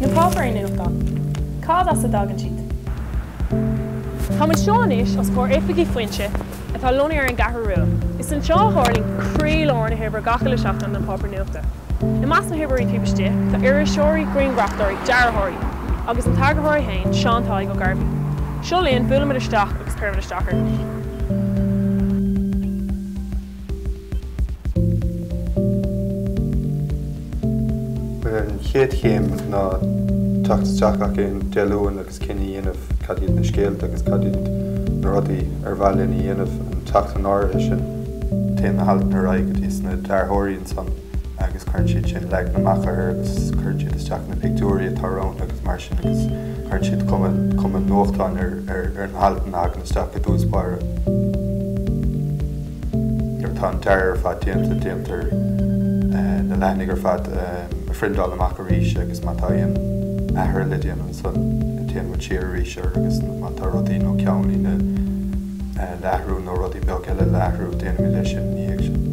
Na páipéirí nuachtán, cad as a dtagann siad? Táim anseo anois os comhair oifigí Foinse, atá lonnaithe ar an gCeathrú Rua. Is anseo a tharlaíonn croílár na hoibre gach uile sheachtain don pháipéar nuachta. I measc na hoibreoirí taobh istigh, tá iriseoirí, grianghrafadóirí, dearthóirí, agus an t-eagarthóir é féin, Seán Tadhg Ó Gairbhí. Seo linn, buailimid isteach agus cuirimid isteach orthu. An chéad chéim ná teacht isteach achan Dé Luain agus cinneadh a dhéanamh cad iad na scéalta agus cad iad na rudaí ar mhaith linn a dhéanamh an tseachtain áirithe sin. Téann na haltanna ar aghaidh go dtí na dearthóirí ansan agus cuireann siad sin leagan amach orthu agus cuireann siad isteach na pictiúirí atá romhainn agus mar sin agus cuireann siad cuma nuachtáin ar na haltanna agus isteach i dtús báire. Nuair atá an dearadh ar fad déanta, déantar na leathanaigh ar fad a phriondáil amach arís agus má tá aon athruithe le déanamh ansan, téann muid siar arís air agus má tá rudaí nó ceannlíne le athrú nó rudaí beaga eile le athrú, déanaimid é sin ina dhiaidh sin.